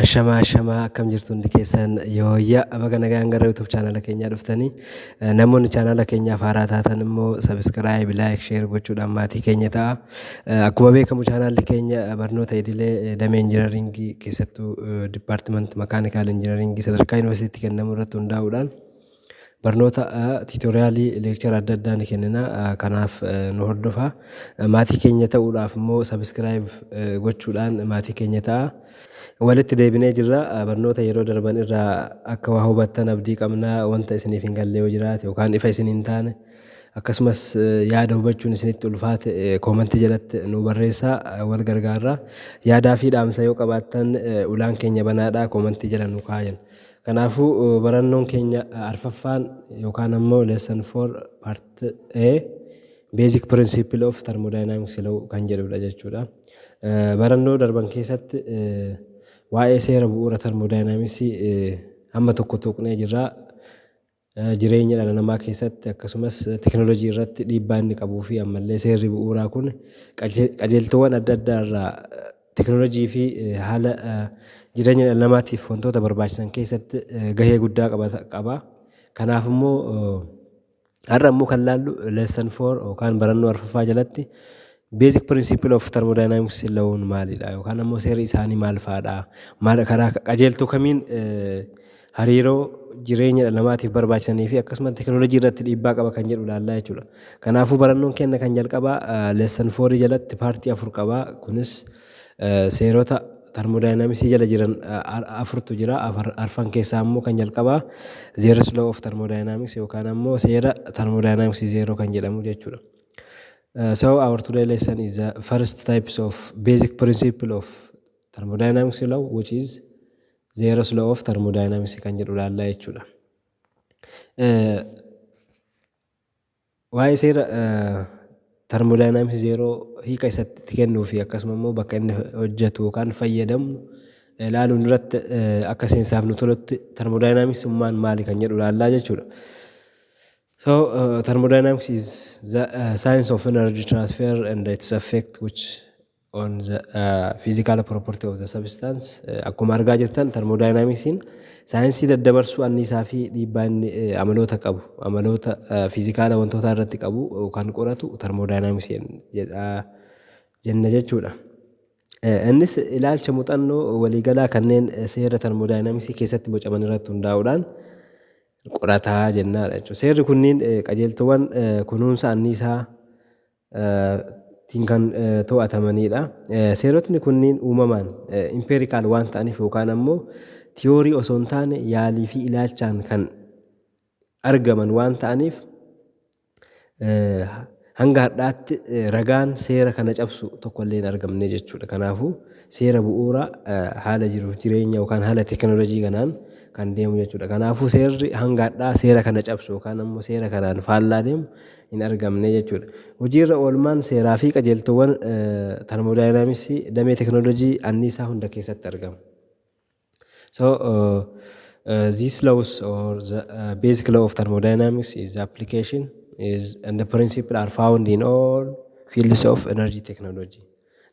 Ashamaa ashamaa akkam jirtu hundi keessan yooyya baga nagaan gara YouTube chaanala keenyaa dhuftanii Eh, namoonni chaanala keenyaaf haaraa taatan immoo subscribe like share gochuudhaan maatii keenya ta'a Eh, akkuma beekamu chaanaalli keenya eh, barnoota idilee eh, damee injinaringii keessattuu department mechanical engineering sadarkaa yuunivarsiitii kennamu irratti hundaa'uudhaan Barnoota tiitoriyaalii leekchara adda addaa ni kennina. Kanaaf nu hordofaa. Maatii keenya ta'uudhaaf immoo subscribe gochuudhaan maatii keenya ta'a. Walitti deebinee jirra. Barnoota yeroo darban irraa akka waa hubattan abdii qabna. Wanta isiniif hin galle yoo jiraate yookaan ifa isin hin taane akkasumas yaada hubachuun isinitti ulfaate koomantii jalatti nuu barreessaa wal gargaarra. Yaadaa fi dhaamsa yoo qabaattan ulaan keenya banaadha koomantii jala nuu kaayan. Kanaafuu, barannoon keenya arfaffaan yookaan ammoo lesson 4 part A basic principle of thermodynamics law kan jedhudha jechuudha. Barannoo darban keessatti waa'ee seera bu'uura thermodynamics hamma tokko tuqnee jirra. jireenya dhala namaa keessatti akkasumas teknolojii irratti dhiibbaa inni qabuu fi ammallee seerri bu'uuraa kun qajeeltoowwan adda addaa irraa teknolojii fi haala jireenya dhala namaatiif wantoota barbaachisan keessatti gahee guddaa qaba. Kanaaf immoo har'a immoo kan laallu lesson four yookaan barannoo arfaffaa jalatti Basic principle of thermodynamics lawuun maalidha yookaan ammoo seerri isaanii maal fa'aadha? Maal karaa qajeeltoo kamiin hariiroo jireenya dhala namaatiif barbaachisanii fi akkasumas tekinooloojii irratti dhiibbaa qaba kan jedhu ilaallaa jechuudha. Kanaafuu barannoon keenya kan jalqabaa lesson 4 jalatti paartii afur qaba. Kunis seerota termodynamics jala jiran afurtu jira. Arfan keessaa ammoo kan jalqabaa zeros law of thermodynamics yookaan ammoo seera thermodynamics zeeroo kan jedhamu jechuudha. So our today lesson is the first types of basic principle of thermodynamics law which is zeros law of thermodynamics kan jedhu ilaallaa jechuudha. Eh, Waa'ee seera eh, thermodynamics zeeroo hiika isatti kennuu fi akkasuma immoo bakka inni hojjetu yookaan fayyadamu eh, ilaaluun duratti eh, akka seensaaf nu tolutti thermodynamics ummaan maali kan jedhu ilaallaa jechuudha. So uh, thermodynamics is the uh, science of energy transfer and its effect which on the uh, physical property of the substance. Uh, Akkuma argaa jirtan thermodynamicsiin saayinsii daddabarsuu anniisaa fi dhiibbaa inni uh, amaloota qabu amaloota uh, fiizikaala wantootaa irratti qabu uh, kan qoratu thermodynamicsiin jedha jenna jechuudha. Uh, Innis ilaalcha muuxannoo waliigalaa kanneen uh, seera thermodynamicsii keessatti bocaman irratti hundaa'uudhaan qorata jennaa dha jechuudha. Seerri kunniin qajeeltoowwan kunuunsa anniisaa tiin kan to'atamanii dha. Seerotni kunniin uumamaan impeerikaal waan ta'aniif yookaan ammoo tiyoorii osoo hin taane yaalii fi ilaalchaan kan argaman waan ta'aniif Hanga har'aatti ragaan seera kana cabsu tokko illee hin argamne jechuudha. Kanaafuu seera bu'uuraa haala jiruuf jireenya yookaan haala teekinooloojii kanaan kan deemu jechuudha. Kanaafuu seerri hanga har'aa seera kana cabsu yookaan ammoo seera kanaan faallaa deemu hin argamne jechuudha. Hojiirra oolmaan seeraa fi qajeeltoowwan termoodaayinaamiksii damee teekinooloojii anniisaa hunda keessatti argama. So, uh, these laws or the uh, basic law of thermodynamics is the application is and the principle are found in all fields of energy technology.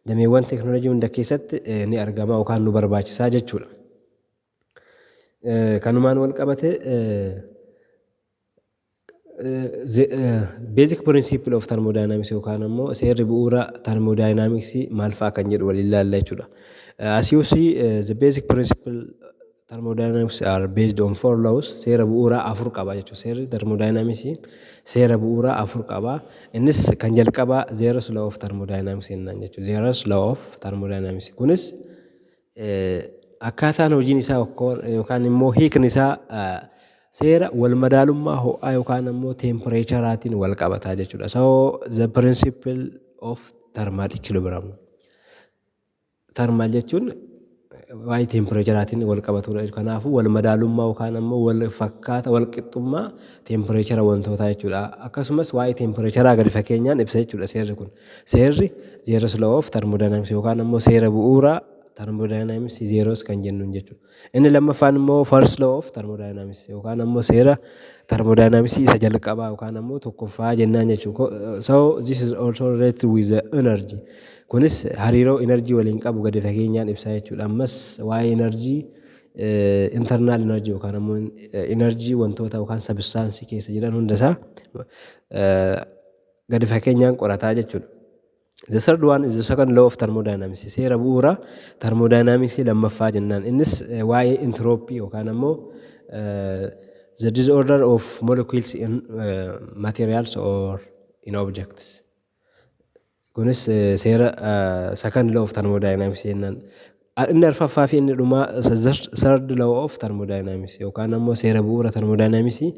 Dameewwan teknoolojii hunda keessatti eh, ni argama yookaan nu barbaachisaa jechuudha. Eh, Kanumaan wal qabate eh, The basic principle of thermodynamics yookaan ammoo seerri bu'uura thermodynamics maal fa'a kan jedhu waliin ilaalla jechuudha. As you see, uh, the basic principle thermodynamics are based on four laws. Seera bu'uuraa afur qaba jechuudha. Seerri thermodynamics seera bu'uuraa afur qaba. Innis kan jalqabaa Zeeros law of thermodynamics jennaan jechuudha. Zeeros law of thermodynamics kunis Akkaataan hojiin isaa yookaan immoo hiikni isaa seera walmadaalummaa ho'aa yookaan immoo teempireecharaatiin wal qabataa jechuudha. So the principle of thermal equilibrium. Thermal jechuun waa'ee teempireecharaatiin wal qabatudha. Kanaafuu wal madaalummaa yookaan immoo wal fakkaata wal qixxummaa teempireechara wantootaa jechuudha. Akkasumas waa'ee teempireecharaa gadi fageenyaan ibsa jechuudha seerri kun. Seerri, zeeroosi loo oof tarmodaayinamisi yookaan ammoo seera bu'uuraa tarmodaayinamisi zeeroosi kan jennuun jechuudha. Inni lammaffaan immoo first law of thermodynamics yookaan ammoo seera tarmodaayinamisii isa jalqabaa yookaan ammoo tokkoffaa jennaan jechuudha. So this is also related with the energy. Kunis hariiroo energy waliin qabu gadi fageenyaan ibsaa jechuudha. Ammas waa'ee energy internal energy yookaan ammoo energy wantoota yookaan substance keessa jiran hundasaa gadi fakeenyaan qorataa jechuudha. The third one is the second law of thermodynamics. Seera bu'uura thermodynamicsii lammaffaa jennaan. Innis eh, waa'ee intiroopii yookaan ammoo eh, the disorder of molecules in eh, materials or in objects. Kunis eh, seera eh, second law of thermodynamics jennaan. A. Inni arfaffaa fi inni dhumaa third law of thermodynamics yookaan ammoo seera bu'uura thermodynamicsii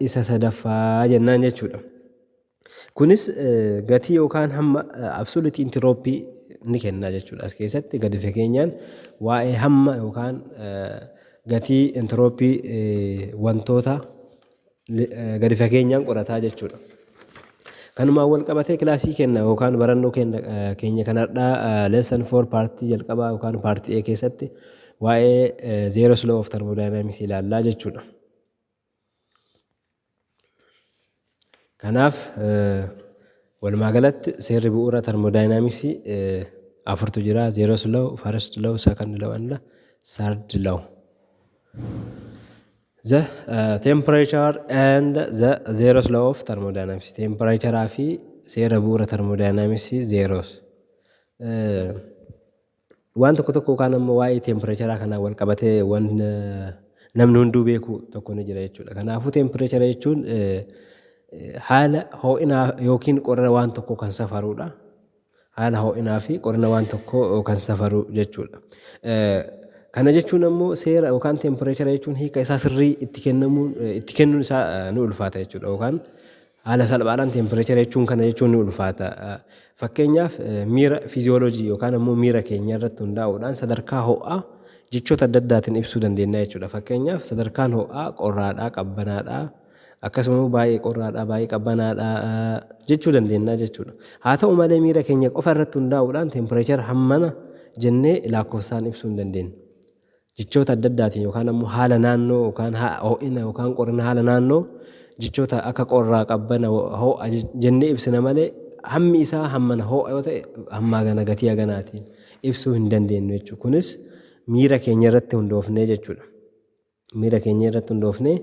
isa sadaffaa jennaan jechuudha. Kunis gatii yookaan hamma absolute entropy ni kenna jechuudha. As keessatti gadi fageenyaan waa'ee hamma yookaan gatii entropy wantoota gadi fageenyaan qorataa jechuudha. Kanumaan wal qabatee kilaasii keenya yookaan barannoo keenya kan har'aa lesson 4 paartii jalqabaa yookaan paartii A keessatti waa'ee zero slow of thermodynamics ilaallaa jechuudha. Kanaaf walumaa galatti seerri bu'uura thermodynamicsii afurtu jira zero slow, first slow, second slow and third slow. The temperature and the zeros law of thermodynamics. Temperature fi seera bu'uura thermodynamics zeros. Waan tokko tokko yookaan ammoo waa'ee temperature kanaa wal qabatee waan namni hunduu beeku tokko ni jira jechuudha. Kanaafuu temperature jechuun haala ho'inaa yookiin qorra waan tokko kan safarudha. Haala ho'inaa fi qorina waan tokkoo kan safaru jechuu dha. Kana jechuun ammoo seera yookaan tempireechara jechuun hiika isaa sirrii itti kennamuun itti kennuun isaa ni ulfaata jechuu dha yookaan haala salphaadhaan tempireechara jechuun kana jechuun ni ulfaata. Fakkeenyaaf miira fiiziyooloojii yookaan ammoo miira keenya irratti hundaa'uudhaan sadarkaa ho'aa jechoota adda addaatiin ibsuu dandeenya jechuu dha. Fakkeenyaaf sadarkaan ho'aa qorraadha, qabbanaadha. Akkasuma immoo baay'ee qorraadha, baay'ee qabbanaadha jechuu dandeenya jechuudha. Haa ta'u malee miira keenya qofa irratti hundaa'uudhaan tempireechara hammana jennee lakkoofsaan ibsuu hin dandeenyu. Jechoota adda addaatiin yookaan ammoo haala naannoo yookaan ho'ina yookaan qorrina haala naannoo jechoota akka qorraa qabbana ho'a jennee ibsina malee hammi isaa hammana ho'a yoo ta'e hammaa gana gatii haganaatiin ibsuu hin dandeenyu jechuudha. Kunis miira keenya irratti hundoofnee jechuudha. Miira keenya irratti hundoofnee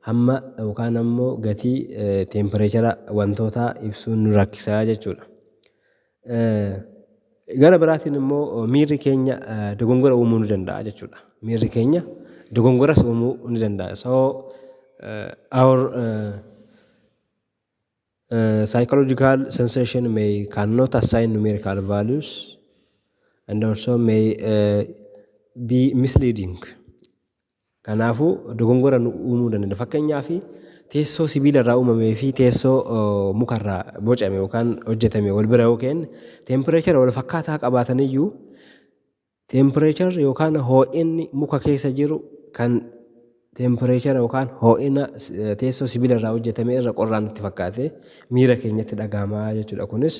hamma yookaan ammoo gatii teempireechara wantootaa ibsuun nu rakkisa jechuudha. Gara biraatiin immoo miirri keenya dogongora uumuu ni danda'a jechuudha. Miirri keenya dogongoras uumuu ni danda'a. So our Psychological sensation may cannot assign numerical values and also may uh, be misleading. Kanaafuu dogongora nu uumuu danda'a. Fakkeenyaaf teessoo sibiila irraa uumamee fi teessoo uh, muka irraa bocame yookaan hojjetame wal bira yoo kenne tempireechara wal fakkaataa qabaataniyyuu Tempireecharri yookaan hoo'inni muka keessa jiru kan tempireechara yookaan hoo'ina teessoo sibiila irraa hojjetame irra qorraa nutti fakkaatee miira keenyatti dhaga'ama jechuudha. Kunis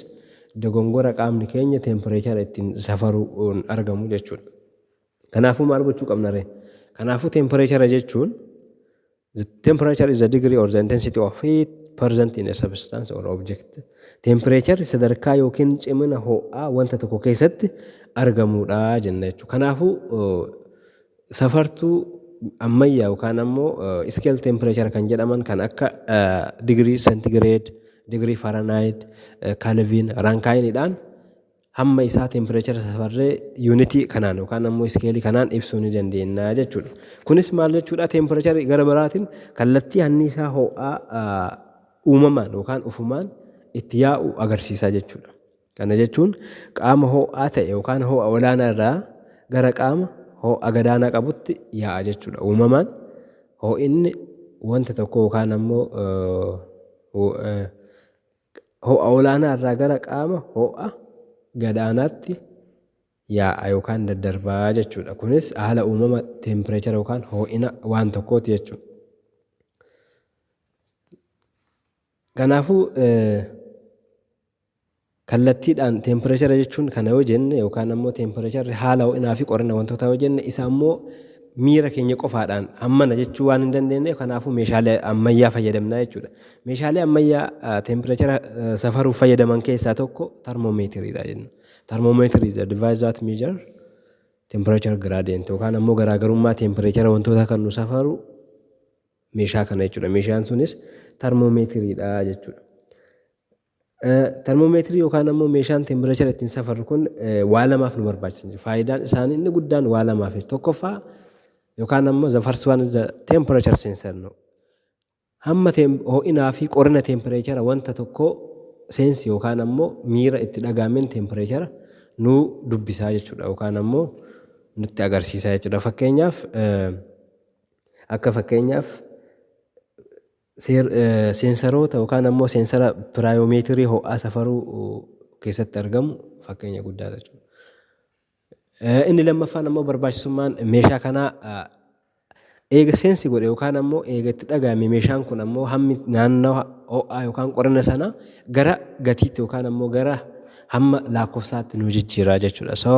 dogongora qaamni keenya tempireechara ittiin safaruun argamu jechuudha. Kanaafuu maal gochuu qabna ree? Kanaafuu tempireechara jechuun The temperature is the degree or the intensity of heat present in a substance or object. Tempereecharri sadarkaa yookiin cimina ho'aa wanta tokko keessatti argamudha jenna jechuudha. Kanaafuu safartuu ammayyaa yookaan ammoo iskeel tempereechara kan jedhaman kan akka digirii sentigireed, digirii faranaayit, kalviin, raankaayinidhaan hamma isaa tempireechara safarree yuunitii kanaan yookaan ammoo iskeelii kanaan ibsuu ni dandeenya jechuudha. Kunis maal jechuudha tempireecharri gara biraatiin kallattii anniisaa ho'aa uumamaan yookaan ufumaan itti yaa'u agarsiisaa jechuudha. Kana jechuun qaama ho'aa ta'e yookaan ho'a olaanaa irraa gara qaama ho'a gadaanaa qabutti yaa'a jechuudha. Uumamaan ho'inni wanta tokko yookaan ammoo Ho'a olaanaa irraa gara qaama ho'a gad-aanaatti yaa'a yookaan daddarba jechuudha. Kunis haala uumama teempireechara yookaan hoo'ina waan tokkooti jechuudha. Kanaafuu kallattiidhaan teempireechara jechuun kana yoo jenne yookaan ammoo teempireecharri haala ho'inaa fi qorrina wantootaa yoo jenne isa ammoo miira keenya qofaadhaan hammana jechuu waan hin dandeenyeef kanaafuu meeshaalee ammayyaa fayyadamna jechuudha. Meeshaalee ammayyaa teempireechara safaruuf fayyadaman keessaa tokko tarmoomeetiriidha jenna. Tarmoomeetiri is the device that measure temperature gradient yookaan ammoo garaagarummaa teempireechara wantootaa kan nu safaru meeshaa kana jechuudha. Meeshaan sunis tarmoomeetiriidha jechuudha. Tarmoomeetirii yookaan ammoo meeshaan teempireechara ittiin safarru kun waa lamaaf nu barbaachisan jiru. Faayidaan isaanii inni guddaan waa lamaaf tokkoffaa yookaan ammoo the first one is the temperature sensor no. Hamma ho'inaa fi qorrina teempireechara wanta tokkoo seensi yookaan ammoo miira itti dhaga'ameen teempireechara nuu dubbisaa jechuudha yookaan ammoo nutti agarsiisaa jechuudha. Fakkeenyaaf akka fakkeenyaaf seensaroota yookaan ammoo seensara piraayoomeetirii ho'aa safaruu keessatti argamu fakkeenya guddaadha jechuudha. Inni lammaffaan ammoo barbaachisummaan meeshaa kanaa eega seensi godhe yookaan ammoo eega itti dhaga'ame meeshaan kun ammoo hammi naannawa ho'aa yookaan qorina sana gara gatiitti yookaan ammoo gara hamma lakkoofsaatti nu jijjiiraa jechuudha. So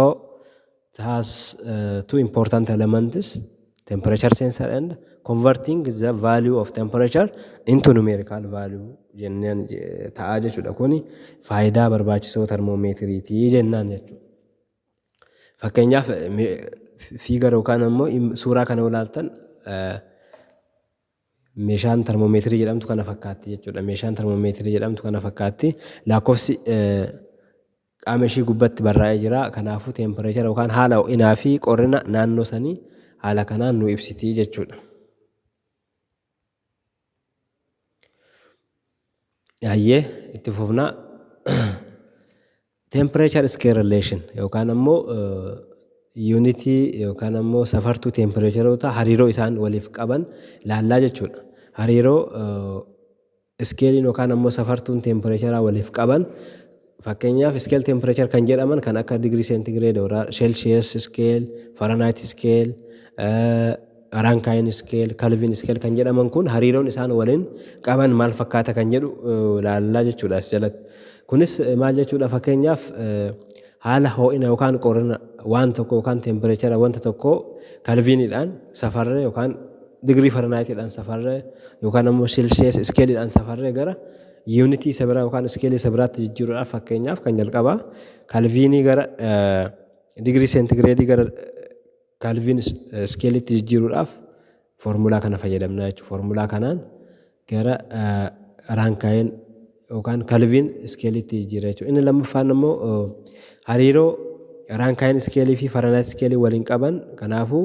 it has uh, two important elements temperature sensor and converting the value of temperature into numerical value jennaan ta'aa jechuudha. Kuni faayidaa barbaachisoo termoomeetiriitii jennaan jechuudha. Fakkeenyaaf fiigar yookaan ammoo suuraa kana yoo ilaaltan meeshaan termoomeetirii jedhamtu kana fakkaatti jechuudha. Meeshaan termoomeetirii jedhamtu kana fakkaatti. Lakkoofsi qaama ishii gubbatti barraa'ee jira. Kanaafuu teempireechara yookaan haala ho'inaa fi qorrina naannoo sanii haala kanaan nu ibsiti jechuudha. Hayyee itti fufnaa temperature scale relation yookaan ammoo yuunitii yookaan ammoo safartuu tempireecharoota hariiroo isaan waliif qaban laallaa jechuudha. Hariiroo iskeeliin yookaan ammoo safartuun tempireecharaa waliif qaban Fakkeenyaaf scale temperature kan jedhaman kan akka degree centigrade or celsius scale, Fahrenheit scale, Rankine scale, Kelvin scale kan jedhaman kun hariiroon isaan waliin qaban maal fakkaata kan jedhu laallaa jechuudha as jalatti. Kunis maal jechuudha fakkeenyaaf haala hoo'ina yookaan qorrina waan tokko yookaan tempireechara wanta tokkoo kalviiniidhaan safarree yookaan digirii faranaayitiidhaan safarree yookaan ammoo silsiyees iskeeliidhaan safarree gara Yuunitii isa biraa yookaan iskeelii isa biraatti jijjiiruudhaaf fakkeenyaaf kan jalqabaa kalviinii gara digirii seentigireedii gara kalviin iskeeliitti jijjiiruudhaaf foormulaa kana fayyadamna jechuudha. Foormulaa kanaan gara raankaayiin yookaan kalviin iskeeliitti jijjiira jechuudha. Inni lammaffaan immoo hariiroo raankaayiin iskeelii fi faranaayit iskeelii waliin qaban kanaafuu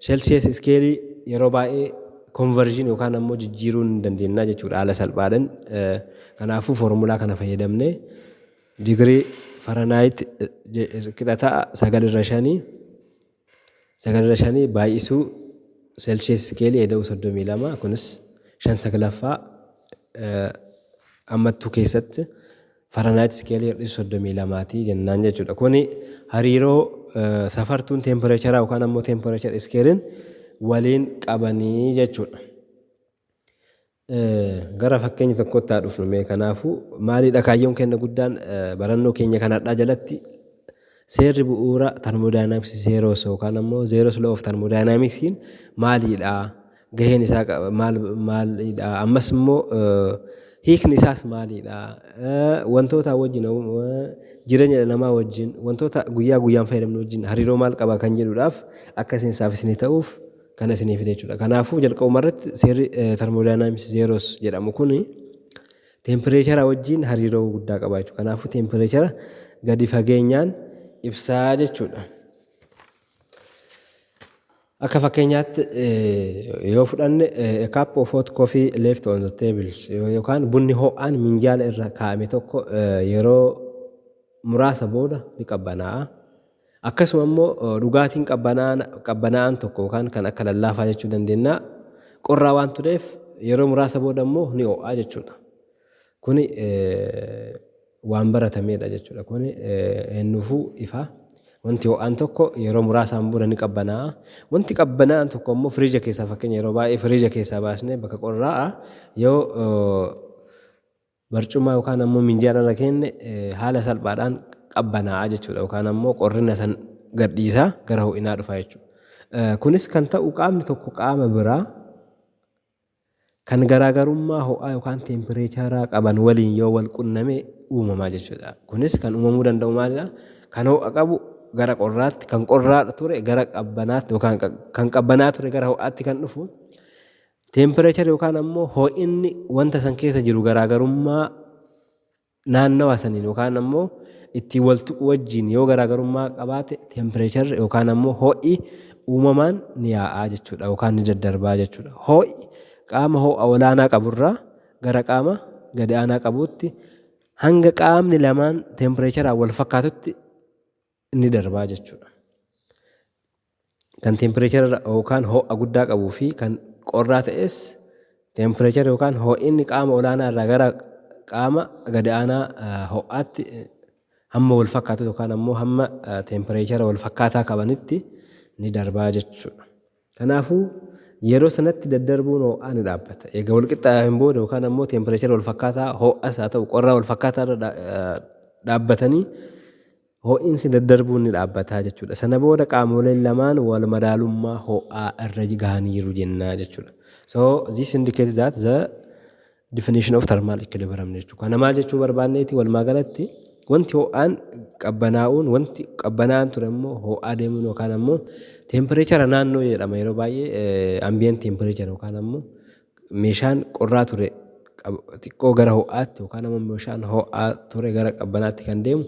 Celsius iskeelii yeroo baay'ee conversion yookaan ammoo jijjiiruu ni dandeenya jechuudha haala salphaadhaan. Kanaafuu foormulaa kana fayyadamnee digirii Fahrenheit qixa ta'a sagal irra shanii sagal irra shanii baay'isuu Celsius iskeelii eda'uu soddomii lama kunis shan saglaffaa ammattuu keessatti Faranaayit iskeelii hir'isi 32 ti jennaan jechuudha. Kuni hariiroo safartuun teempireecharaa yookaan ammoo teempireechar iskeeliin waliin qabanii jechuudha. Gara fakkeenya tokkotti haa dhufnu mee kanaafuu maalidha kaayyoon keenya guddaan barannoo keenya kan har'aa jalatti Seerri bu'uura Tarmoodaayinaamiksi Zeeroos yookaan ammoo Zeeroos Loo of Tarmoodaayinaamiksiin maaliidha? Gaheen isaa maal maaliidha? Ammas immoo hiikni isaas maaliidha? Wantootaa wajjin jireenya dhala namaa wajjin wantoota guyyaa guyyaan fayyadamnu wajjin hariiroo maal qaba kan jedhuudhaaf akka seensaaf isinii ta'uuf kana isinii fide jechuudha. Kanaafuu jalqabuma irratti seerri tarmoodaayinaamiksi zeeroos jedhamu kun Teempireechara wajjin hariiroo guddaa qaba jechuudha. Kanaafuu teempireechara gadi fageenyaan ibsaa jechuudha. Akka fakkeenyaatti yoo fudhanne a cup of hot coffee left on the table yookaan bunni ho'aan minjaala irra kaa'ame tokko yeroo muraasa booda ni qabbanaa'a. Akkasuma immoo dhugaatiin qabbanaa'aan tokko yookaan kan akka lallaafaa jechuu dandeennaa qorraa waan tureef yeroo muraasa booda immoo ni ho'aa jechuudha. Kuni waan baratameedha jechuudha. Kuni eenyuufuu ifa. Wanti ho'aan tokko yeroo muraasaan booda ni qabbanaa'a. Wanti qabbanaa'aan tokko immoo firiija keessaa fakkeenya yeroo baay'ee firiija keessaa baasnee bakka qorraa'a yoo barcuma yookaan ammoo minjaala irra keenne haala salphaadhaan qabbanaa'a jechuudha yookaan ammoo qorrina san gadhiisaa gara ho'inaa dhufa jechuudha. Kunis kan ta'u qaamni tokko qaama biraa kan garaagarummaa ho'aa yookaan teempireecharaa qaban waliin yoo wal qunname uumamaa jechuudha. Kunis kan uumamuu danda'u maalidha? Kan ho'a qabu gara qorraatti, kan qorraa ture gara qabbanaatti yookaan kan qabbanaa ture gara ho'aatti kan dhufu Temperature yookaan ammoo hoo'inni wanta san keessa jiru garaagarummaa naannawa saniin yookaan ammoo ittiin wal tuqu wajjiin yoo garaagarummaa qabaate temperature yookaan ammoo hoo'i uumamaan ni yaa'aa jechuudha yookaan ni daddarbaa jechuudha. Hoo'i qaama hoo'a olaanaa qaburraa gara qaama gadi aanaa qabuutti hanga qaamni lamaan tempireecharaan wal fakkaatutti ni darbaa jechuudha. Kan teempireechara yookaan ho'a guddaa qabuu fi kan qorraa ta'es teempireechara yookaan ho'inni qaama olaanaa irraa gara qaama gadi aanaa ho'aatti hamma wal fakkaatu yookaan ammoo hamma teempireechara wal fakkaataa qabanitti ni darbaa jechuudha. Kanaafuu yeroo sanatti daddarbuun ho'aa ni dhaabbata. Egaa wal qixxaayaafin booda yookaan ammoo teempireechara wal fakkaataa ho'as haa ta'u qorraa wal fakkaataa irra dhaabbatanii Hoo'insi daddarbuun ni dhaabbata jechuudha. Sana booda qaamoleen lamaan wal madaalummaa hoo'aa irra gahaniiru jenna jechuudha. So this indicates that the definition of thermal equilibrium jechuudha. Kana maal jechuu barbaanneeti walumaa galatti wanti hoo'aan qabbanaa'uun wanti qabbanaa'aan ture immoo hoo'aa deemuun yookaan ammoo teempireechara naannoo jedhama yeroo baay'ee ambiyeen teempireechara yookaan ammoo Meeshaan qorraa ture xiqqoo gara ho'aatti yookaan ammoo meeshaan ho'aa ture gara qabbanaatti kan deemu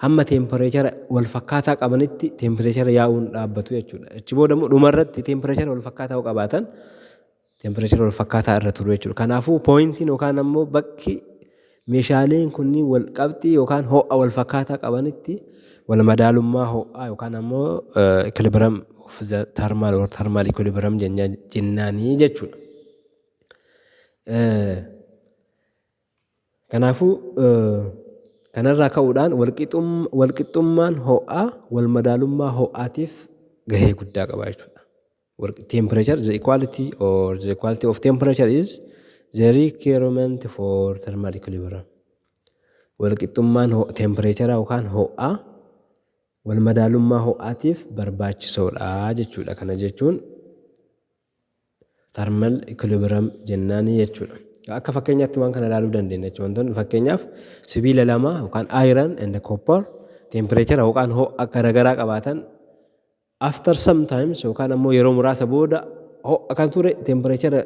hamma teempireechara wal fakkaataa qabanitti teempireechara yaa'uun dhaabbatu jechuudha. Achi booda immoo dhumarratti teempireechara wal fakkaataa yoo qabaatan teempireechara wal fakkaataa irra turu jechuudha. Kanaafuu pooyintiin yookaan ammoo bakki Meeshaaleen kunniin walqabxii yookaan ho'a walfakkaataa qabanitti walmadaalummaa ho'aa yookaan ammoo equilibrium of the thermal or thermal equilibrium jenna- jennaanii jechuudha. Eh, Kanaafuu eh, kanarraa ka'uudhaan walqixum- walqixxummaan ho'aa walmadaalummaa ho'aatiif gahee guddaa qaba jechuudha. Work temperature, the equality or the equality of temperature is the requirement for thermal equilibrium. Walqixxummaan ho- tempireechara yookaan ho'aa wal madaalummaa ho'aatiif barbaachisoodha jechuudha. Kana jechuun thermal equilibrium jennaani jechuudha. Akka fakkeenyaatti waan kana ilaaluu dandeenya jechuudha. Wantoonni fakkeenyaaf sibiila lama yookaan iron and copper tempireechara yookaan ho'a garaagaraa qabaatan After some times yookaan ammoo yeroo muraasa booda ho'a kan ture teempireechara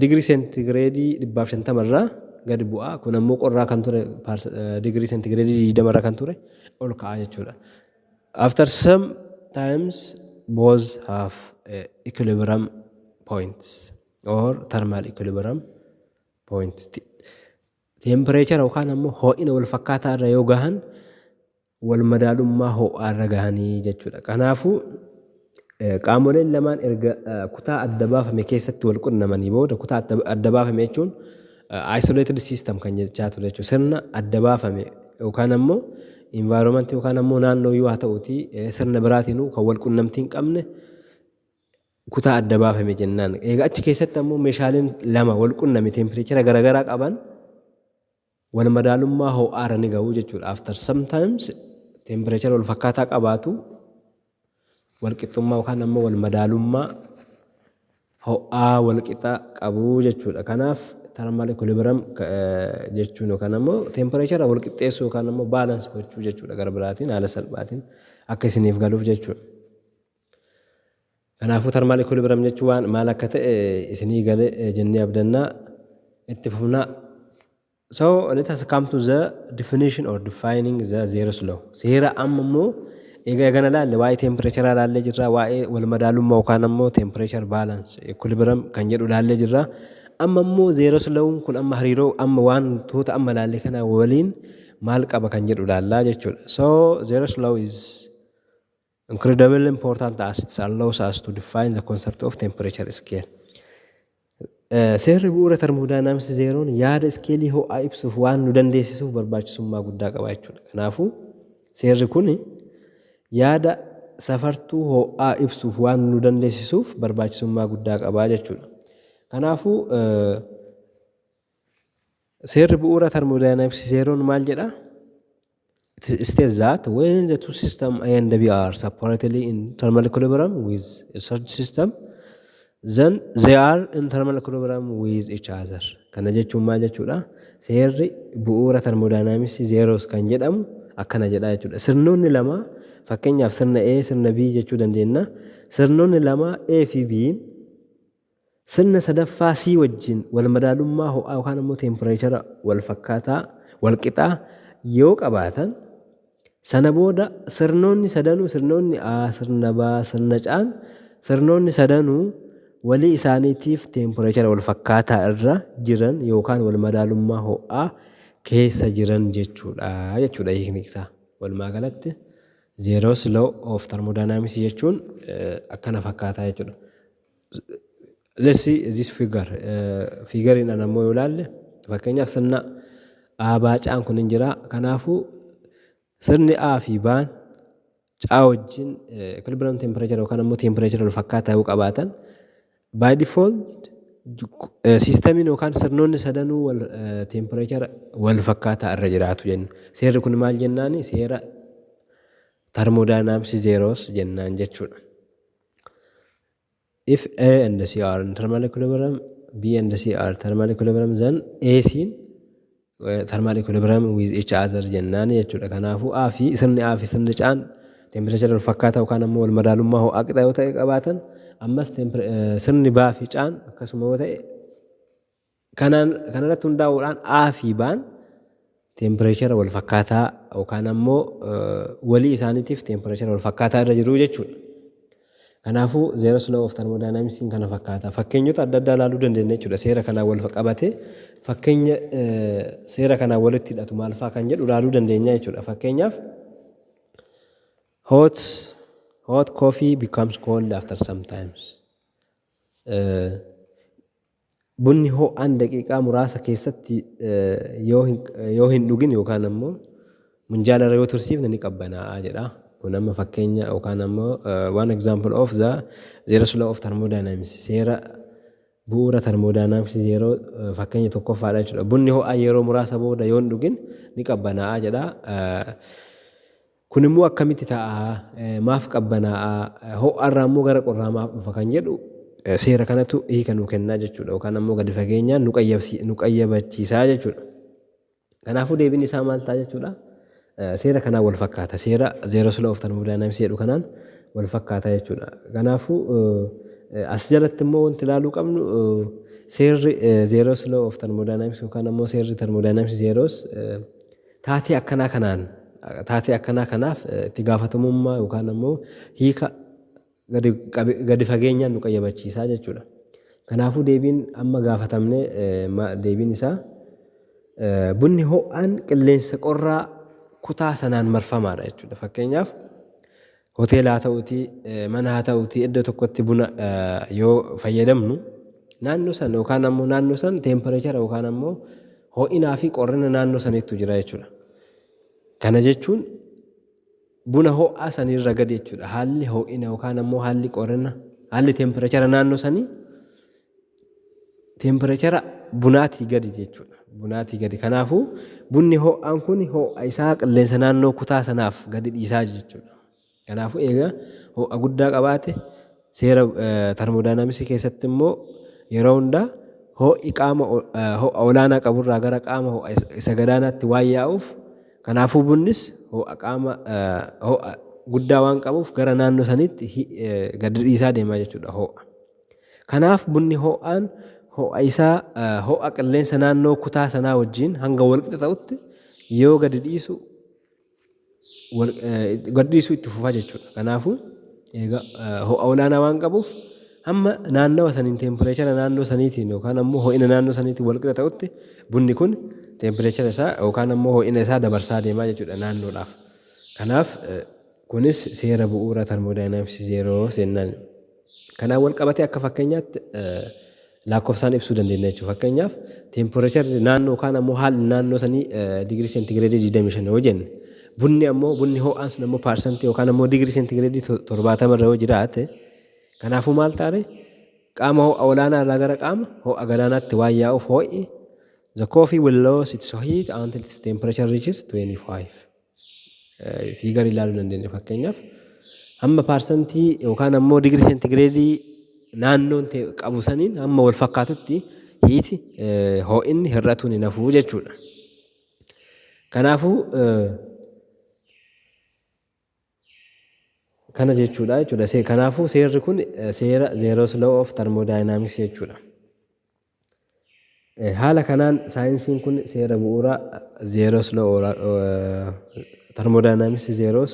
digirii seentigireedii 250 irraa gadi bu'a. Kun ammoo qorraa kan ture digirii seentigireedii 20 irra kan ture ol ka'a jechuudha. After some times both have equilibrium points or thermal equilibrium point. Teempireechara yookaan ammoo ho'ina wal fakkaataa irra yoo gahan walmadaalummaa ho'aarra gahanii jechuudha. Kanaafuu, qaamoleen lamaan erga kutaa adda baafame keessatti wal qunnamanii booda kutaa adda baafame jechuun isolated system kan jechaa ture jechuudha. Sirna adda baafame yookaan ammoo environment yookaan ammoo naannoo yoo haa ta'uti sirna biraatiinuu kan wal qunnamtii hin qabne kutaa adda baafame jennaan. Egaa achi keessatti ammoo meeshaaleen lama wal qunname tempireechera garaagaraa qaban Wal madaalummaa ho'aa irra ni ga'u jechuudha. After some times temperature wal fakkaataa qabaatu wal qixxummaa yookaan ammoo wal madaalummaa ho'aa wal qixa qabu jechuudha. Kanaaf thermal equilibrium jechuun yookaan ammoo temperature wal qixxeessuu yookaan ammoo balance gochuu jechuudha gara biraatiin haala salphaatiin akka isiniif galuuf jechuudha. Kanaafuu tarmaal ikolibiram jechuun waan maal akka ta'e isinii gale jennee abdanna itti fufna. So let us come to the definition or defining the zeros law. Seera amma immoo egaa eegana laalle waa'ee teempireecharaa laallee jirra waa'ee wal madaalummaa yookaan ammoo teempireechar baalans ikolibiram kan jedhu laallee jirra. Amma immoo zeeros lawuun kun amma hariiroo amma wantoota amma laalle kana waliin maal qaba kan jedhu laallaa jechuudha. So zeeros law is Incredibly important as it allows us to define the concept of temperature scale. Seerri bu'uura termodynamics zeeroon yaada iskeelii ho'aa ibsuuf waan nu dandeessisuuf barbaachisummaa guddaa qaba jechuudha. Kanaafuu seerri kun yaada safartuu ho'aa ibsuuf waan nu dandeessisuuf barbaachisummaa guddaa qaba jechuudha. Kanaafuu Seerri bu'uura thermodynamics zeeroon maal jedha? It states that when the two system A and B are separately in thermal equilibrium with a third system, then they are in thermal equilibrium with each other. Kana jechuun maal jechuudha? Seerri bu'uura thermodynamics zeeroos kan jedhamu akkana jedha jechuudha. Sirnoonni lama fakkeenyaaf sirna A, sirna B jechuu dandeenya. Sirnoonni lama A fi B'n Sirna sadaffaa C wajjin walmadaalummaa ho'aa yookaan ammoo teempireechara walfakkaataa, walqixaa, yoo qabaatan, sana booda sirnoonni sadanuu sirnoonni A, sirna B, sirna C'n sirnoonni sadanuu walii isaaniitiif teempireechara walfakkaataa irra jiran yookaan walmadaalummaa ho'aa keessa jiran jechuudha jechuudha hiikni isaa. Walumaa galatti Zeeroos Law of Thermodynamics jechuun akkana fakkaataa jechuudha. Let's see this figure. Fiigariidhaan ammoo yoo ilaalle fakkeenyaaf sirna A baa caan kun hin jira. Kanaafuu sirni A fi baan caa wajjin equilibrium temperature yookaan ammoo temperature wal fakkaataa yoo qabaatan by default siistamiin yookaan sirnoonni sadanuu wal temperature wal fakkaataa irra jiraatu jenna. Seerri kun maal jennaani? Seera termodynamics zeros jennaan jechuudha. If A and C are in thermal equilibrium, B and C are thermal equilibrium, then A siin thermal equilibrium with each other jennaan jechuudha. Kanaafuu A fi sirni A fi sirni C'aan tempireechara wal fakkaataa yookaan ammoo wal madaalummaa ho'aa qixa yoo ta'e qabaatan ammas sirni B fi C'aan akkasuma yoo ta'e Kanaan kanarratti hundaa'uudhaan A fi Baan teempireechara wal fakkaataa yookaan ammoo walii isaaniitiif teempireechara wal fakkaataa irra jiru jechuudha. Kanaafuu zeeroo siloo of termoodaayinaamisiin kana fakkaata. Fakkeenyota adda addaa ilaaluu dandeenya jechuudha. Seera kanaan wal qabatee fakkeenya seera kanaan walitti hidhatu maal fa'aa kan jedhu ilaaluu dandeenya jechuudha. Fakkeenyaaf hot hot coffee becomes cold after sometimes. Bunni ho'aan daqiiqaa muraasa keessatti yoo hin dhugin yookaan ammoo munjaala irra yoo tursiifne ni qabbanaa'a jedha. Kun amma fakkeenya yookaan ammoo one example of the zeros law of thermodynamics seera bu'uura thermodynamics yeroo fakkeenya tokkoffaadha jechuudha. Bunni ho'aan yeroo muraasa booda yoo hin dhugin ni qabbanaa'a jedha. Kun immoo akkamitti ta'a? Maaf qabbanaa'a? Ho'a irraa immoo gara qorraa maaf dhufa kan jedhu seera kanatu hiika nuu kennaa jechuudha yookaan ammoo gadi fageenyaan nu qayyabsi- nu qayyabachiisaa jechuudha. Kanaafuu deebiin isaa maal ta'a jechuudha? Eh, Seera kanaan wal fakkaata. Seera Zeeroo Law of Thermodynamics jedhu kanaan wal fakkaata jechuudha. Kanaafuu eh, as jalatti immoo wanti ilaaluu qabnu eh, seerri Zeeroo Law of Thermodynamics yookaan ammoo seerri Thermodynamics Zeeroos eh, Taatee akkanaa kanaan taatee akkanaa kanaaf itti gaafatamummaa yookaan ammoo hiika gadi, qabe, gadi fageenyaan nu qayyabachiisaa jechuudha. Kanaafuu deebiin amma gaafatamne ma, deebiin isaa bunni ho'aan qilleensa qorraa kutaa sanaan marfamaadha jechuudha. Fakkeenyaaf Hoteela haa ta'uti, mana haa ta'uti iddoo tokkotti buna yoo fayyadamnu naannoo san yookaan ammoo naannoo san teempireechara yookaan ammoo ho'inaa fi qorrina naannoo saniittu jira jechuudha. Kana jechuun buna ho'aa sanirra gadi jechuudha. Haalli ho'ina yookaan ammoo haalli qorrina haalli teempireechara naannoo sanii Teempireechara bunaatii gadi jechuudha. Bunaatii gadi. Kanaafuu bunni ho'aan kun ho'a isaa qilleensa naannoo kutaa sanaaf gadi dhiisaa jechuudha. Kanaafuu eega ho'a guddaa qabaate seera termodaayinaamisii keessatti immoo yeroo hundaa ho'i qaama ho'a olaanaa qaburraa gara qaama ho'a isa gadaanaatti waan yaa'uuf kanaafuu bunnis ho'a qaama ho'a guddaa waan qabuuf gara naannoo saniitti gadi dhiisaa deemaa jechuudha ho'a. Kanaaf bunni ho'aan ho'a isaa ho'a qilleensa naannoo kutaa sanaa wajjin hanga walqixa ta'utti yoo gadi dhiisu gadi dhiisuu itti fufaa jechuudha. Kanaafuu egaa ho'a olaanaa waan qabuuf hamma naannawa saniin teempireechara naannoo saniitiin yookaan ammoo ho'ina naannoo saniitiin walqixa ta'utti bunni kun teempireechara isaa yookaan ammoo ho'ina isaa dabarsaa deemaa jechuudha naannoodhaaf. Kanaaf kunis seera bu'uura termoodaayinaamiksi zeeroo seennaani. Kanaan walqabatee akka fakkeenyaatti laakkofsaan ibsuu dandeenya jechuudha. Fakkeenyaaf teemporeecharri naannoo yookaan ammoo haalli naannoo sanii digirii seentigireedii 25 yoo jenne bunni ammoo bunni ho'aan sun ammoo paarsantii yookaan ammoo digirii seentigireedii 70 irra yoo jiraate kanaafuu maal taare qaama ho'a olaanaa irraa gara qaama ho'a galaanaatti waan yaa'uuf ho'i the coffee will lose its heat until its temperature reaches 25. fiigar ilaaluu dandeenya fakkeenyaaf hamma paarsantii yookaan ammoo digirii seentigireedii naannoon ta'e qabu saniin hamma wal fakkaatutti hiiti hoo'inni hir'atuun hin hafuu jechuudha. Kanaafuu kana jechuudha jechuudha. Kanaafuu seerri kun seera zeeroo slow of thermodynamics jechuudha. Haala kanaan saayinsiin kun seera bu'uura zeeroos law tarmodaayinaamisi zeeroos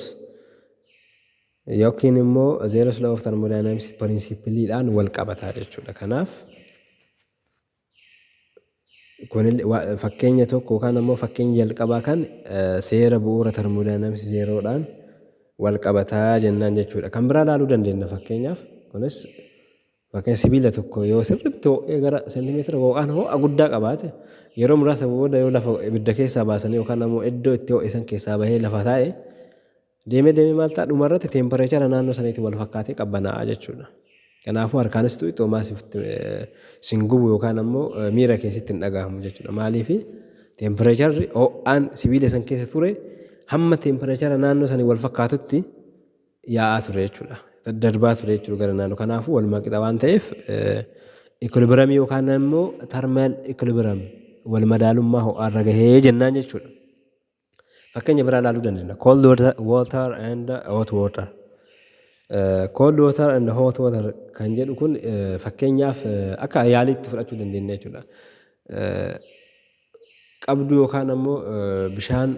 yookiin immoo zeeroos law of tarmodaayinaamisi pirinsipiliidhaan wal qabataa jechuudha. Kanaaf fakkeenya tokko yookaan immoo fakkeenya jalqabaa kan seera bu'uura tarmodaayinaamisi zeeroodhaan wal qabataa jennaan jechuudha. Kan biraa ilaaluu dandeenya fakkeenyaaf kunis Ykn sibiila tokko yoo sirriitti ho'ee gara seentimeetira yookaan ho'a guddaa qabaate yeroo muraasa booda yoo lafa ibidda keessaa baasanii yookaan ammoo iddoo itti ho'e san keessaa bahee lafa taa'e deemee deemee maal ta'a dhumarratti teempareechara naannoo saniitiin wal fakkaatee qabbanaa'a jechuudha. Kanaafuu harkaanis tu'i xoomaa sin gubu yookaan ammoo miira kee sitti hin dhagahamu jechuudha. Maaliif teempareecharri ho'aan sibiila san keessa ture hamma teempareechara naannoo sanii wal fakkaatutti yaa'aa ture jechuudha. Daddarbaa ture jechuudha gara naannoo. Kanaafuu walumaa qixa waan ta'eef ikilibiramii yookaan immoo tarmaal ikilibiram wal madaalummaa ho'aarra gahee jennaan jechuudha. Fakkeenya biraa ilaaluu dandeenya. Cold water, water and hot water. Uh, cold water and hot water kan jedhu kun uh, fakkeenyaaf uh, akka yaaliitti fudhachuu dandeenya jechuudha. Uh, qabduu yookaan ammoo uh, bishaan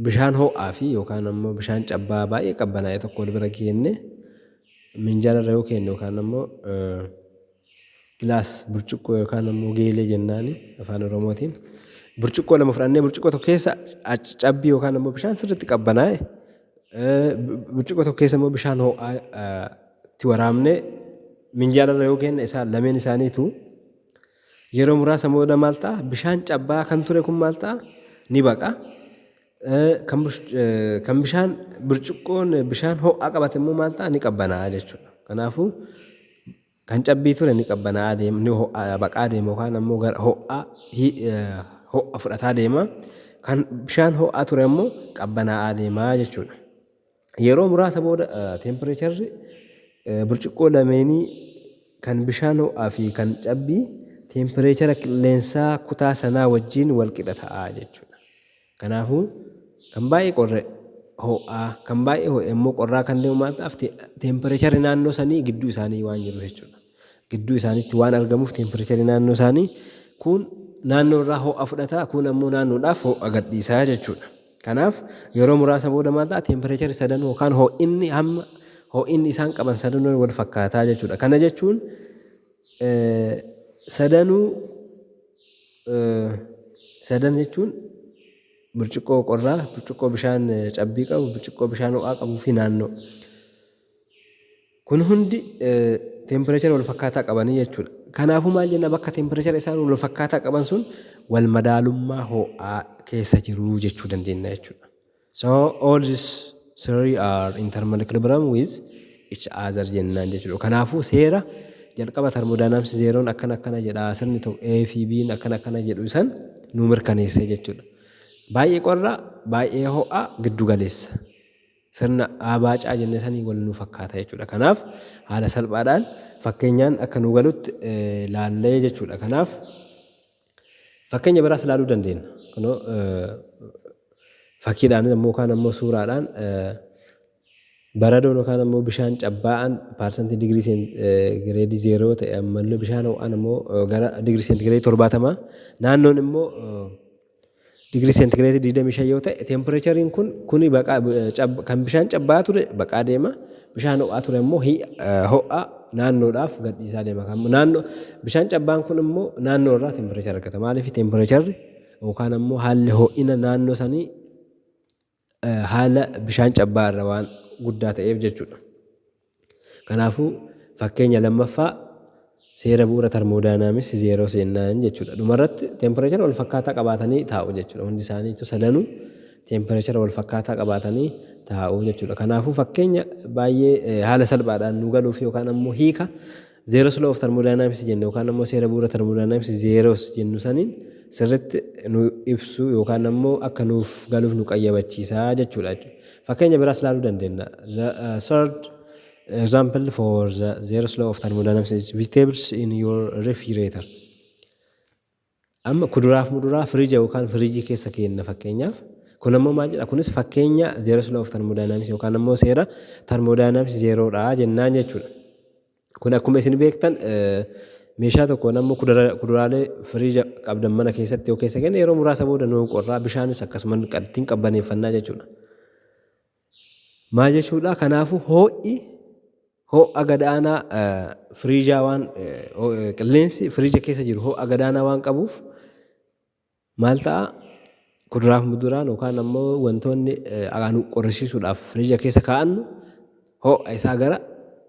Bishaan ho'aa fi yookaan ammoo bishaan cabbaa baay'ee qabbanaa'e tokko wal bira geennee minjaala irra yoo keenne yookaan ammoo gilaas burcuqqoo yookaan ammoo geelee jennaani afaan oromootiin burcuqqoo lama fudhannee burcuqqoo tokko keessa cabbii yookaan ammoo bishaan sirriitti qabbanaa'e burcuqqoo tokko keessa immoo bishaan ho'aa itti waraabnee minjaala irra yoo keenne isaan lameen isaaniitu Yeroo muraasa booda maal ta'a? Bishaan cabbaa'aa kan ture kun maal ta'a? Ni baqa. Kan bishaan burcuqqoon bishaan ho'aa qabate immoo maal ta'a? Ni qabbanaa'a jechuudha. Kanaafuu kan cabbii ture ni qabbanaa'a deema, ni ho'aa baqaa deema yookaan ammoo gara ho'aa ho'a fudhataa deema. Kan bishaan ho'aa ture ammoo qabbanaa'aa deema jechuudha. Yeroo muraasa booda teempireecharri burcuqqoo lameenii kan bishaan ho'aa fi kan cabbii teempireechara qilleensaa kutaa sanaa wajjin walqixa ta'a jechuudha. Kanaafuu kan baay'ee qorre ho'aa kan baay'ee ho'e immoo qorraa kan deemu maal ta'aaf teempireecharri naannoo sanii gidduu isaanii waan jiruuf jechuudha. gidduu isaaniitti waan argamuuf teempireecharii naannoo isaanii kuun naannoo irraa ho'a fudhata kuun ammoo naannoodhaaf ho'a gadhiisaa jechuudha. Kanaaf yeroo muraasa booda maal ta'a teempireechari sadan yookaan ho'inni hamma ho'inni isaan qaban sadanuu wal fakkaataa jechuudha. Kana jechuun sadanuu sadan jechuun burcuqqoo qorraa, burcuqqoo bishaan cabbii qabu, burcuqqoo bishaan ho'aa qabuu fi naannoo. Kun hundi teempireechara wal fakkaataa qabanii jechuudha. Kanaafuu maal jenna bakka teempireechara isaan wal fakkaataa qaban sun wal madaalummaa ho'aa keessa jiru jechuu dandeenya jechuudha. So all these three are in thermal equilibrium with each other jennaan jechuudha. Kanaafuu seera jalqaba termodynamics zeeroon akkana akkana jedha sirni tokko A fi B'n akkana akkana jedhu san nu mirkaneessee jechuudha. Baay'ee qorra, baay'ee ho'a, giddu galeessa. Sirna A baacaa jenne sanii wal nu fakkaata jechuudha. Kanaaf haala salphaadhaan fakkeenyaan akka nu galutti laallee jechuudha. Kanaaf fakkeenya biraas laaluu dandeenya. Kunoo fakkiidhaan ammoo kaan ammoo suuraadhaan baradoon yookaan ammoo bishaan cabbaa'aan paarsantii digirii seentigireedii zeeroo ta'e ammallee bishaan ho'aan ammoo gara digirii seentigireedii torbaatamaa naannoon immoo Digirii seentigireetii 25 yoo ta'e teempireechariin kun kuni baqaa kan bishaan cabbaa ture baqaa deema bishaan ho'aa ture immoo ho'aa naannoodhaaf gadhiisaa deema kan naannoo bishaan cabbaan kun immoo naannoo irraa teempireechara argata maaliif teempireecharri yookaan immoo haalli ho'ina naannoo sanii haala bishaan cabbaa irra waan guddaa ta'eef jechuudha. Kanaafuu fakkeenya lammaffaa seera bu'uura tarmoodaayinaamis zeeroo seennaan jechuudha. Dhumarratti teempireechara wal fakkaataa qabaatanii taa'u jechuudha. Hundi isaaniitu sadanuu teempireechara wal fakkaataa qabaatanii taa'u jechuudha. Kanaafuu fakkeenya baay'ee haala salphaadhaan nu galuuf yookaan ammoo hiika Zeros law of thermodynamics jenne yookaan ammoo seera bu'uura thermodynamics zeros jennu saniin sirritti nu ibsu yookaan ammoo akka nuuf galuuf nu qayyabachiisa jechuudha jechuudha. Fakkeenya biraas laaluu dandeenya. The uh, third example for the zeros law of thermodynamics is vegetables in your refrigerator. Amma kuduraaf muduraa firija yookaan firijii keessa keenna fakkeenyaaf. Kun ammoo maal jedha? Kunis fakkeenya zeeroo law of tarmoodaayinaamisi yookaan ammoo seera tarmoodaayinaamisi zeeroodha jennaan jechuudha. Kun akkuma isin beektan meeshaa tokkoon ammoo kuduraalee firiija qabdan mana keessatti yoo keessa kenne yeroo muraasa booda nuu qorraa bishaanis akkasuma ittiin qabbaneeffannaa jechuudha. Maa jechuudha kanaafuu hoo'i hoo'a gadaanaa firiijaa waan qilleensi firiija keessa jiru hoo'a gadaanaa waan qabuuf maal ta'a kuduraaf muduraan yookaan ammoo wantoonni nu qorrisiisuudhaaf firiija keessa kaa'annu hoo'a isaa gara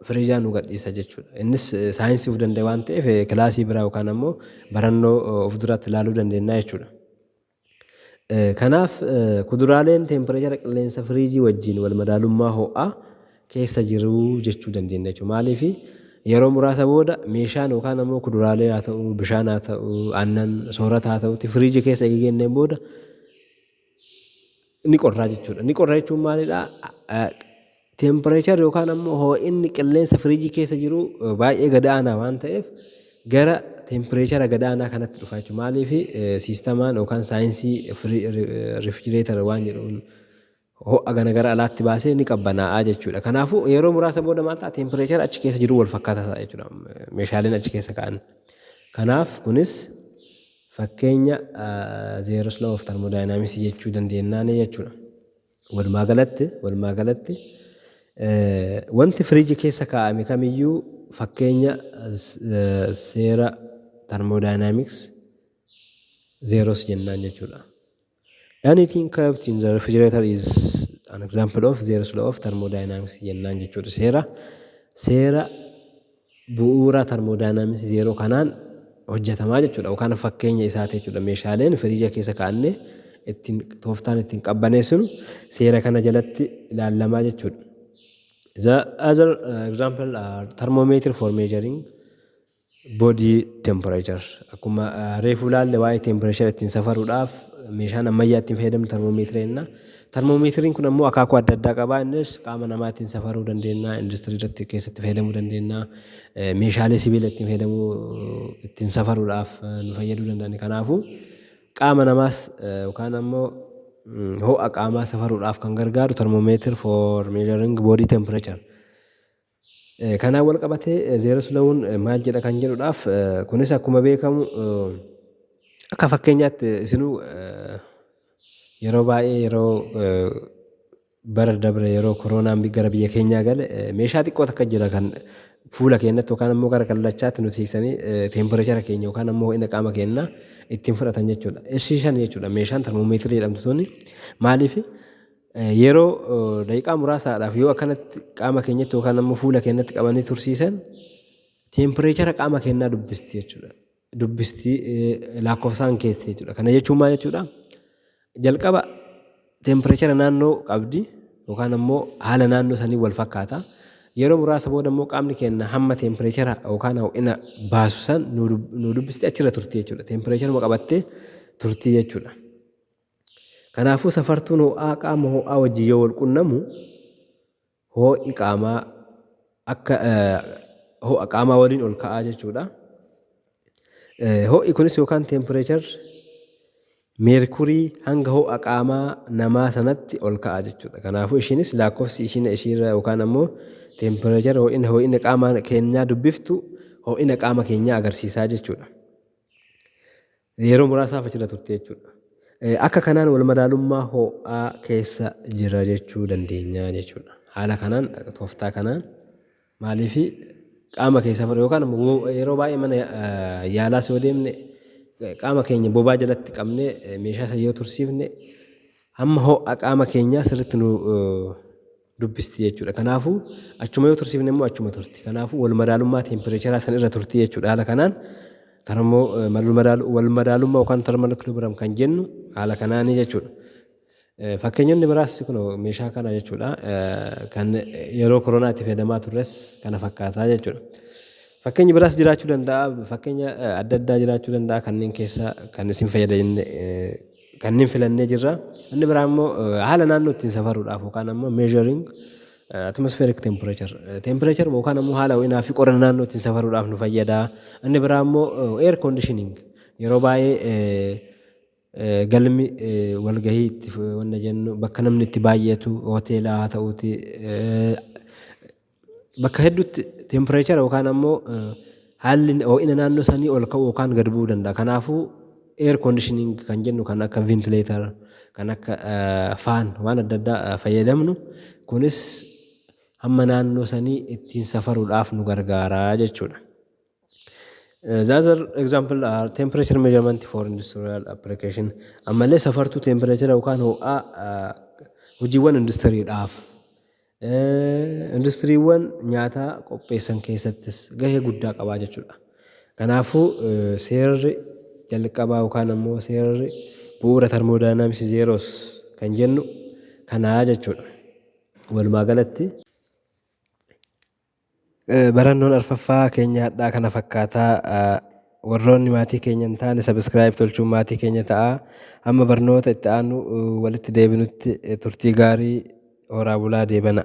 firiijaa nu gadhiisa jechuudha. Innis saayinsii of danda'e waan ta'eef kilaasii biraa yookaan ammoo barannoo of duraatti ilaaluu dandeenya jechuudha. Kanaaf, kuduraaleen teempireechara qilleensa firiijii wajjin walmadaalummaa ho'aa keessa jiru jechuu dandeenya jechuudha. Maaliif? Yeroo muraasa booda meeshaan yookaan ammoo kuduraalee haa ta'u, bishaan haa ta'u, aannan, soorata haa ta'uutii firiijii keessa erga keenneen booda, ni qorraa jechuudha. Ni qorra jechuun maalidhaa? Teempireechar yookaan ammoo hoo'inni qilleensa firiijii keessa jiru baay'ee gad aanaa waan ta'eef gara teempireechara gad aanaa kanatti dhufa jechuudha. Maaliif siistamaan yookaan saayinsii rifijireetar waan jedhuun ho'a gana gara alaatti baasee ni qabbanaa'aa jechuudha. Kanaafuu yeroo muraasa booda maal ta'a teempireechara achi keessa jiru wal fakkaataa ta'a jechuudha. Meeshaaleen achi keessa ka'an. Kanaaf kunis Fakkeenya Zeros law of thermodynamics jechuu dandeenyaani jechuudha. Walumaa galatti walumaa galatti wanti firiiji keessa kaa'ame kamiyyuu fakkeenya seera thermodynamics zeros jennaan jechuudha. Anything kept in the refrigerator is an example of zero law of thermodynamics jennaan jechuudha. Seera seera bu'uura thermodynamics zero kanaan hojjetamaa jechuudha. Yookaan fakkeenya isaati jechuudha. Meeshaaleen firiija keessa kaa'anne ittiin tooftaan ittiin qabbaneessinu seera kana jalatti ilaalamaa jechuudha. The other uh, example are thermometer for measuring Body temperature akkuma reefu ilaalle waa'ee tempireeshara ittiin safaruudhaaf meeshaan ammayyaa ittiin fayyadamnu termoomeetirii jenna. Termoomeetiriin kun ammoo akaakuu adda addaa qaba. Innis qaama namaa ittiin safaruu dandeenya, industirii irratti keessatti fayyadamuu dandeenya, meeshaalee sibiila ittiin fayyadamuu ittiin safaruudhaaf nu fayyaduu danda'a. Kanaafuu qaama namaas yookaan ammoo ho'a qaamaa safaruudhaaf kan gargaaru termoomeetir for measuring body temperature. Kanaan walqabatee Zeeroslawuun maal jedha kan jedhudhaaf kunis akkuma beekamu akka fakkeenyaatti isinuu yeroo baay'ee yeroo bara dabre yeroo koroonaan gara biyya keenyaa gale meeshaa xiqqoo takka jira kan fuula keenyatti yookaan ammoo gara kallachaatti nu siiqsanii teempireechara keenya yookaan ammoo ho'ina qaama keenyaa ittiin fudhatan jechuudha. Ishii shan jechuudha meeshaan termoomeetirii jedhamtu tuni maaliif Yeroo daqiiqaa muraasaadhaaf yoo akkanatti qaama keenyatti yookaan ammoo fuula keenyatti qabanii tursiisan teempireechara qaama keenyaa dubbisti jechuudha. Dubbisti lakkoofsaan keessi jechuudha. Kana jechuun maal jechuudha? Jalqaba teempireechara naannoo qabdi yookaan ammoo haala naannoo sanii wal fakkaata. Yeroo muraasa booda immoo qaamni keenya hamma teempireechara yookaan ho'ina baasu san nu dubbisti achirra turti jechuudha. Teempireecharuma qabattee turti jechuudha. Kanaafuu safartuun ho'aa qaama ho'aa wajjin yoo wal qunnamu hoo'i qaamaa akka ho'a qaamaa waliin ol ka'aa jechuudha. Ho'i kunis yookaan teempireechar meerkurii hanga ho'a qaamaa namaa sanatti ol ka'aa jechuudha. Kanaafuu ishiinis lakkoofsi ishiin ishiirra yookaan ammoo teempireechar ho'ina ho'ina qaama keenyaa dubbiftu ho'ina qaama keenyaa agarsiisaa jechuudha. Yeroo muraasaaf achirra turte jechuudha. Akka kanaan walmadaalummaa ho'aa keessa jirra jechuu dandeenya jechuudha. Haala kanaan tooftaa kanaan maaliif qaama keessaa fudhatu yookaan immoo yeroo baay'ee mana yaalaas yoo deemne qaama keenya bobaa jalatti qabnee meeshaa sana yoo tursiifne hamma ho'a qaama keenyaa sirriitti nu dubbisti jechuudha. Kanaafuu achuma yoo tursiifne immoo achuma turti. Kanaafuu wal madaalummaa teempireecharaa san irra turti jechuudha. Haala kanaan tarmoo wal madaalummaa yookaan tarmal equilibrium kan jennu haala kanaanii jechuudha. Fakkeenyonni biraas kun meeshaa kana jechuudha. Kan yeroo koronaa itti fayyadamaa turres kana fakkaataa jechuudha. Fakkeenyi biraas jiraachuu danda'a. Fakkeenya adda addaa jiraachuu danda'a. Kanneen keessa kan isin fayyadamne Kanneen filannee jirra. Inni biraa immoo haala naannoo ittiin safaruudhaaf yookaan ammoo measuring atmospheric temperature. Temperature yookaan ammoo haala ho'inaa fi qorrina naannoo ittiin safaruudhaaf nu fayyada. Inni biraa immoo air conditioning yeroo baay'ee galmi walgahii itti wanna jennu bakka namni itti baay'atu hoteelaa haa ta'uuti Bakka hedduutti tempireechara yookaan ammoo haalli ho'ina naannoo sanii ol ka'uu yookaan gad bu'uu danda'a. Kanaafuu air conditioning kan jennu kan akka ventilator, kan akka faan waan adda addaa fayyadamnu kunis hamma naannoo sanii ittiin safaruudhaaf nu gargaara jechuudha. The other example are temperature measurement for industrial application. Ammallee safartuu tempireechara yookaan ho'aa hojiiwwan industiriidhaaf Industiriiwwan nyaataa qopheessan keessattis gahee guddaa qabaa jechuudha. Kanaafuu seerri jalqabaa yookaan ammoo seerri bu'uura tarmoodaayinaamisi zeeroos kan jennu kanaa jechuudha. Walumaa galatti Barannoon arfaffaa keenya hadhaa kana fakkaataa warroonni maatii keenya hin taane sabiskiraayib tolchuun maatii keenya ta'a amma barnoota itti aanu walitti deebinutti turtii gaarii horaa bulaa deebana.